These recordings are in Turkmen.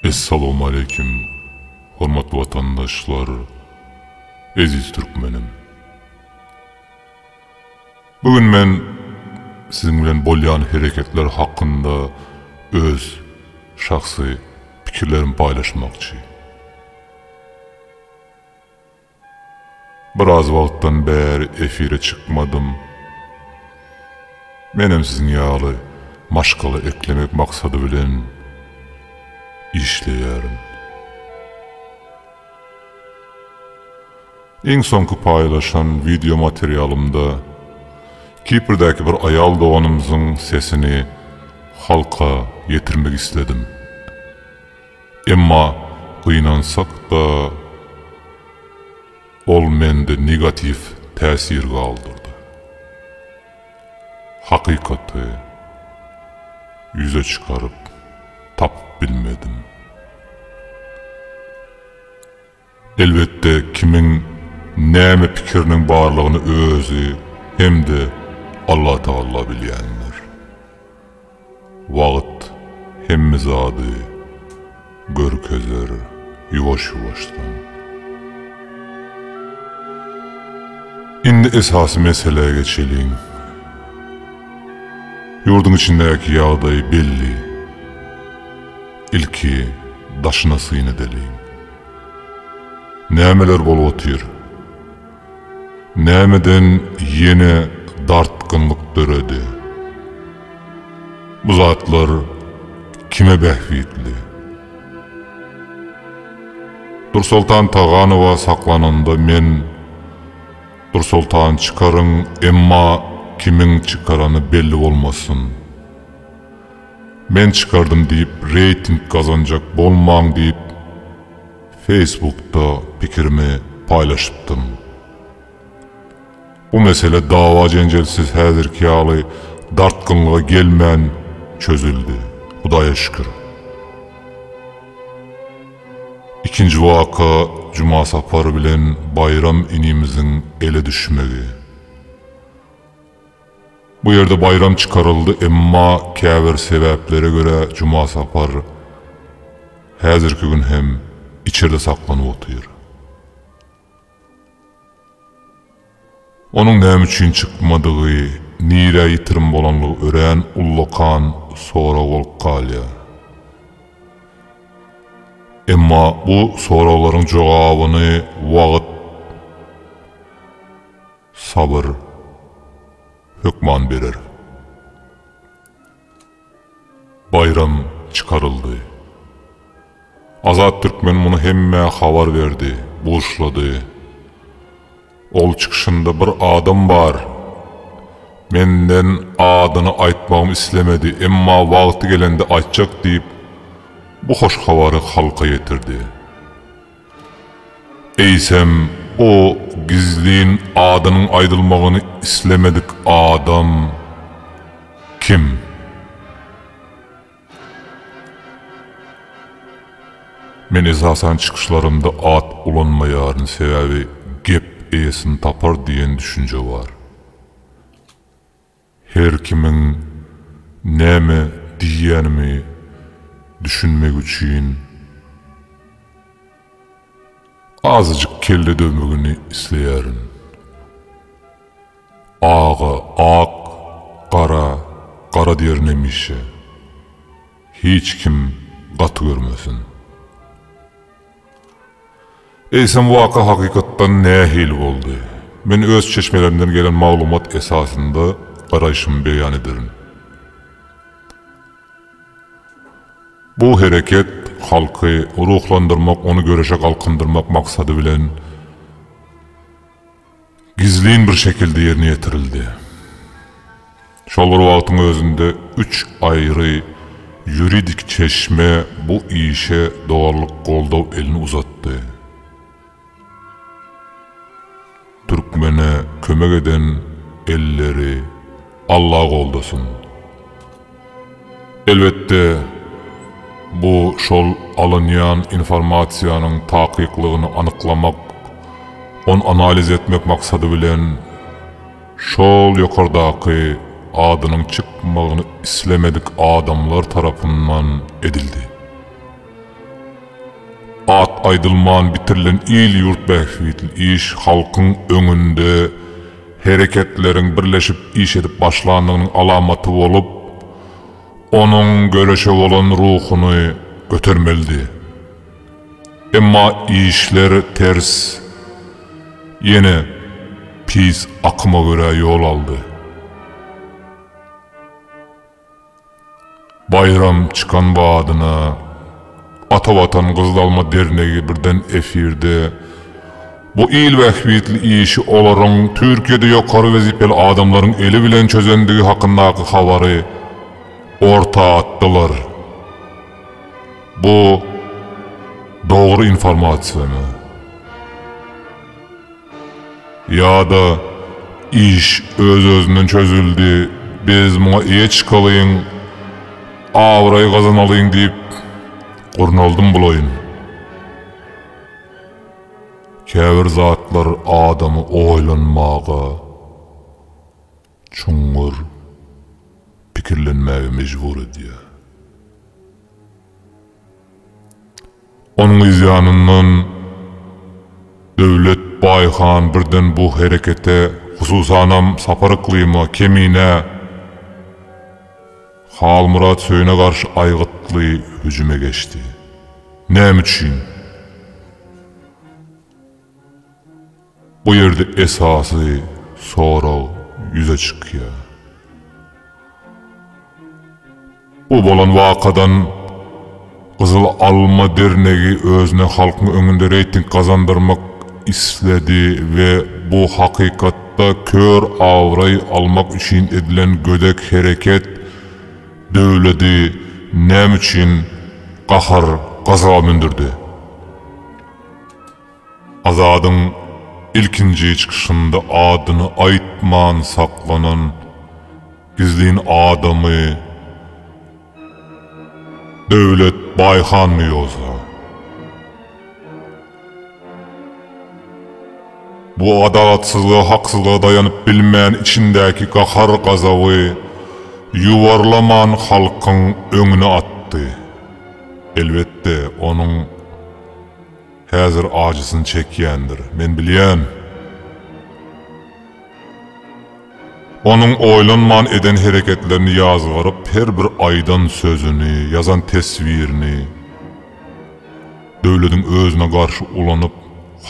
Essalawmaleýkim hormatly watandaşlar eziz türkmenim. Bu gün men siziň bilen bolýan hereketler hakynda öz şahsy pikirlerimi paýlaşmakçy. Biraz wagtdan bäri efire çykmadym. Menem siziň ýaly maşgala eklemek maksady bilen işleýärin. Iň soňky paýlaşan wideo materialymda Kiprdäki bir aýal doganymyzyň sesini halka ýetirmek isledim. Emma gynansak-da, ol mende negatiw täsir galdyrdy. Hakykaty ýüze çykaryp tapyp bilmedim. Elbetde kimiň näme pikiriniň barlygyny özi hem-de Allatagalla bilýändir. Wagt hemme zady görkezer ýuwaş-ýuwaşdan. Indi esasy meselä geçeliň. Ýurduň içindäki ýagdaý belli. Ilki daşyna syn edeliň. Nämeler bolup otyr? Nämeden ýene dartgynlyk döredi? Bu zatlar kime bähbitli? Dursoltan Taganowa saklananda men Dursoltany çykaryň, emma kimiň çykarany belli bolmasyn. Men çykardym diýip reýting gazanjak bolmaň diýip Facebookda pikirimi paýlaşypdym. Bu mesele dawa-jenjelsiz häzirki ýaly dartgynlyga gelmän çözüldi, Hudaýa şükür. Ikinji waka Jumasapar bilen Baýram inimiziň ele düşmegi. Bu ýerde baýram çykaryldy, emma käbir sebäplere görä Juma Sapar häzirki gün hem içerde saklanyp otyr. Onuň näme üçin çykmadygy, nirä ýitirim bolanlygy örän ullakan sorag bolup galýar. Emma bu soraglaryň jogabyny wagt. Sabyr hökman berer. Baýram çykaryldy. Azat Türkmen muny hemmä habar berdi, buşlady. Ol çykyşynda bir adam bar. Menden adyny aýtmagymy islemedi, emma wagty gelende aýtjak diýip, bu hoş habary halka ýetirdi. Eýsem, o gizlin adynyň aýdylmagyny islemedik adam kim? Men esasan çykyşlarymda at ulanmaýaryn, sebäbi gep eýesini tapar diýen düşünje bar. Her kimiň näme diýýänimi düşünmek üçin azajyk kelle döwmegini isleýärin. Aga ak, gara gara diýerin hemişe. Hiç kim gaty görmesin. Eýsem waka hakykatdan nähili boldy? Men öz çeşmelerimden gelen maglumat esasynda garaýşymy beýan ederin. Bu hereket halky ruhlandyrmak, ony göreşe galkyndyrmak maksady bilen gizlin bir şekilde ýerine ýetirildi. Şol bir wagtyň özünde üç aýry ýuridik çeşme bu işe doganlyk goldaw elini uzatdy. Türkmene kömek eden elleri Alla goldasyn! Elbetde, bu şol alynýan informasiýanyň takyklygyny anyklamak, ony analiz etmek maksady bilen şol ýokardaky adynyň çykmagyny islemedik adamlar tarapyndan edildi. At aýdylman bitirilen il-ýurt bähbitli iş halkyň öňünde hereketleriň birleşip iş edip başlandygynyň alamaty bolup, onuň göreşe bolan ruhuny götermelidi. Emma işler ters, ýene pis akyma görä ýol aldy. Baýram çykan badyna Ata Watan Gyzylma dernegi birden efirde bu il bähbitli işi olaryň Türkiýede ýokary wezipeli adamlaryň eli bilen çözendigi hakyndaky habary orta atdylar. Bu dogry informasiýamy? Ýa-da, Iş öz-özünden çözüldi, biz muňa eýe çykalyň, abraý gazanalyň diýip gurnaldym bolaýyn. Käbir zatlar adamy oýlanmaga, çuňňur pikirlenmäge mejbur edýär. Onuň yzýanyndan Döwlet baý han birden bu herekete, hususanam Sapar Yklyma, Keminä, Halmyrat Söýüne garşy aýgytly hüjüme geçdi. Näme üçin? Bu ýerde esasy sorag ýüze çykýar. Bu bolan wakadan Gyzyl Alma dernegi özüne halkyň öňünde reýting gazandyrmak isledi we bu hakykatda kör abraý almak üçin edilen gödek hereket döwledi näme üçin gahar-gazaga mündürdi? Azadyň ilkinji çykyşynda adyny aýtman saklanan gizlin adamy Döwlet Baýhanmy ýogsa? Bu adalatsyzlyga haksyzlyga daýanyp bilmän içindäki gahar gazaby ýuwarlaman halkyň öňüne atdy. Elbetde onuň. Häzir ajysyny çekýändir, men bilýän. Onuň oýlanman eden hereketlerini ýazgaryp, her bir aýdan sözüni, ýazan teswirini döwlediň özüne garşy ulanyp,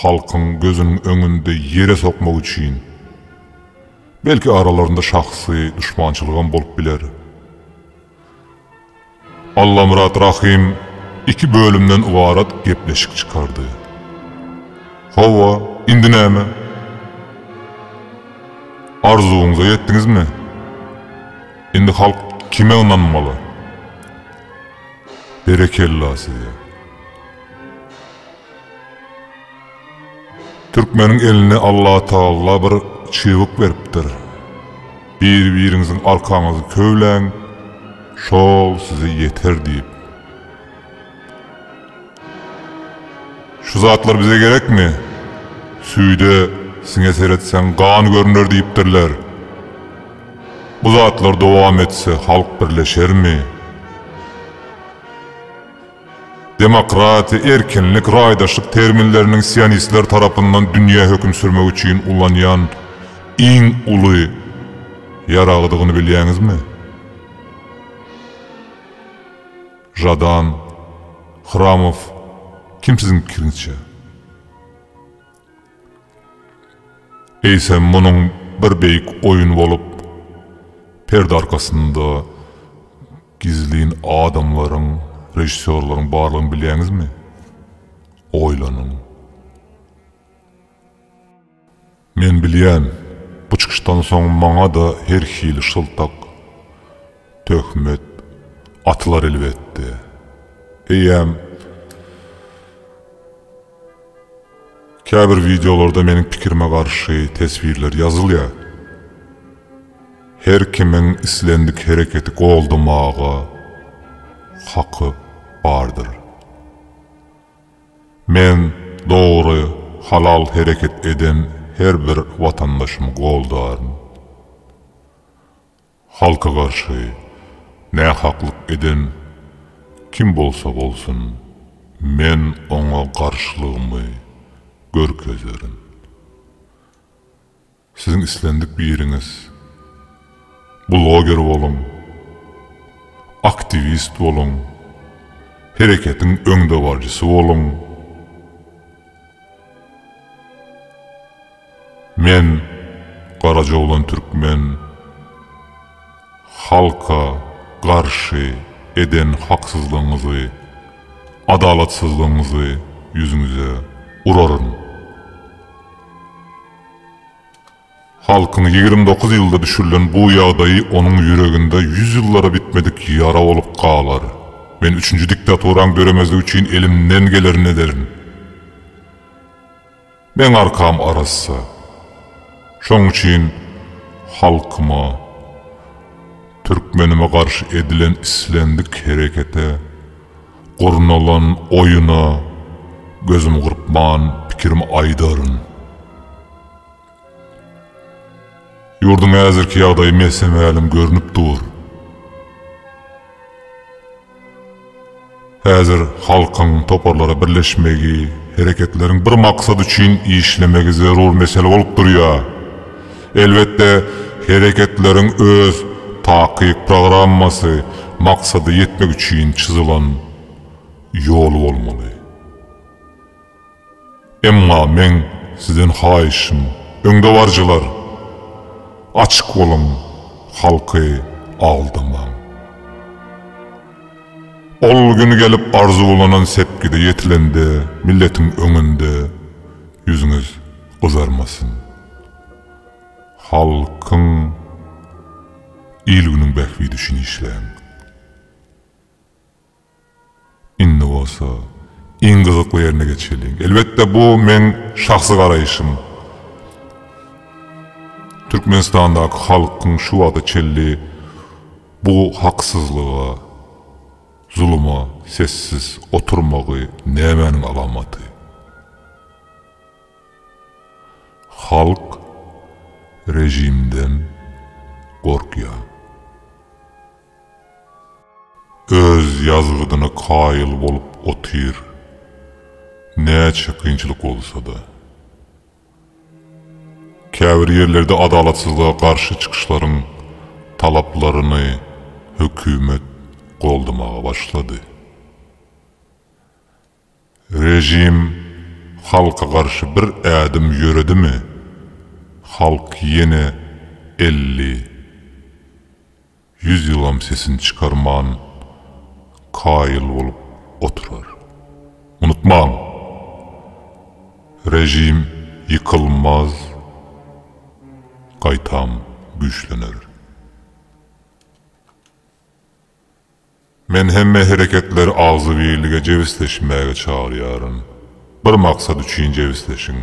halkyň gözüniň öňünde ýere sokmak üçin. Belki aralarynda şahsy duşmançylygam bolup biler. Allamyrat Rahym iki bölümden ybarat gepleşik çykardy. Hawa, indi näme? Arzuwyňyza ýetdiňizmi? Indi halk kime ynanmaly? Berekella size! Türkmeniň eline Allatagalla bir çybyk beripdir. Biri-biriňiziň arkaňyzy köwläň, şol size ýeter diýip. Şu zatlar bize gerekmi? Süýde siňe seretseň gan görüner diýipdirler. Bu zatlar dowam etse halk birleşermi? Demokratiýa, erkinlik, raýdaşlyk terminleriniň sionistler tarapyndan dünýä höküm sürmek üçin ulanýan iň uly ýaragydygyny bilýäňizmi? Žadan, Hramow, kim siziň pikiriňizçe? Eýsem munuň bir beýik oýun bolup, perde arkasynda, Gizlin adamlaryň, režissýorlaryň barlygyny bilýäňizmi? Oýlanyň. Men bilýän, bu çykyşdan soň maňa-da her hili şyltak, töhmet atylar elbetde. Eýýäm. Käbir wideolarda meniň pikirime garşy teswirler ýazylýar. Her kimiň islendik hereketi goldamaga haky bardyr. Men dogry, halal hereket eden her bir watandaşymy goldaryn. Halka garşy nähaklyk eden kim bolsa bolsun, men oňa garşylygymy görkezerin. Siziň islendik biriňiz bloger boluň, aktiwist boluň, hereketiň öňdebaryjysy boluň. Men Garajoglan Türkmen halka garşy eden haksyzlygyňyzy, adalatsyzlygyňyzy ýüzüňize uraryn. Halkyň ýigrimi dokuz ýylda düşürilen bu ýagdaýy onuň ýüreginde ýüz ýyllara bitmedik ýara bolup galar. Men üçünji diktaturaň döremezligi üçin elimden gelerini ederin. Meň arkam arassa. Şoň üçin halkyma, türkmenime garşy edilen islendik herekete, gurnalan oýuna gözüm gyrpman pikirimi aýdaryn. Ýurduň häzirki ýagdaýy mese-mälim görnüp dur. Häzir halkyň toparlara birleşmegi, hereketleriň bir maksat üçin işlemegi zerur mesele bolup durýar. Elbetde, hereketleriň öz takyk programmasy, maksada ýetmek üçin çyzylan ýoly bolmaly. Emma meň sizden haýyşym, öňdebaryjylar, açyk boluň, halky aldamaň. Ol gün gelip arzuwlanan sepgide ýetilende milletiň öňünde ýüzüňiz gyzarmasyn. Halkyň, il-günüň bähbidi üçin işläň. Indi bolsa iň gyzykly ýerine geçeliň. Elbetde bu meň şahsy garaýşym. Türkmenistandaky halkyň şu wagta çenli bu haksyzlyga, zuluma sessiz oturmagy nämäniň alamaty? Halk rejimden gorkýar. Öz ýazgydyna kaýyl bolup otyr. Näçe kynçylyk bolsa-da. Käbir ýerlerde adalatsyzlyga garşy çykyşlaryň talaplaryny hökümet goldamaga başlady. Režim halka garşy bir ädim ýöredimi, halk ýene elli, ýüz ýylam sesini çykarman kaýyl bolup oturar. Unutmaň, režim ýykylmaz, gaýtam güýçlener. Men hemme hereketleri agzybirlige jebisleşmäge çagyrýaryn. Bir maksat üçin jebisleşiň.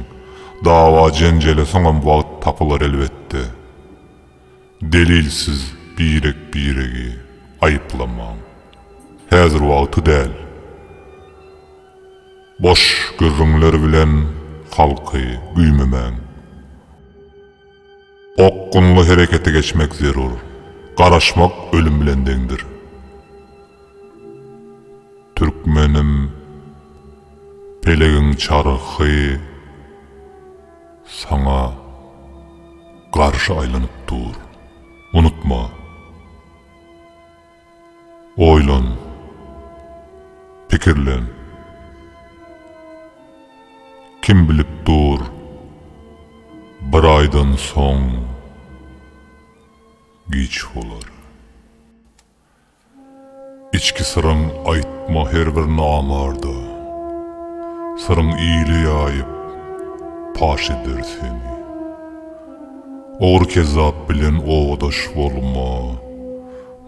Dawa-jenjele soňam wagt tapylar elbetde. Delilsiz birek-biregi aýyplamaň. Häzir wagty däl. Boş gürrüňler bilen halky güýmemäň. Okgunly herekete geçmek zerur. Garaşmak ölüm bilen deňdir. Türkmenim, pelegiň çarhy saňa garşy aýlanyp dur. Unutma! Oýlan. Pikirlen. Kim bilip dur, bir aýdan soň giç bolar. Içki syryň aýtma her bir namarda. Syryň ile ýaýyp, paş eder seni. Ogry-kezzap bilen obadaş bolma,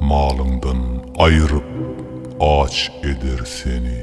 malyňdan aýryp, aç eder seni.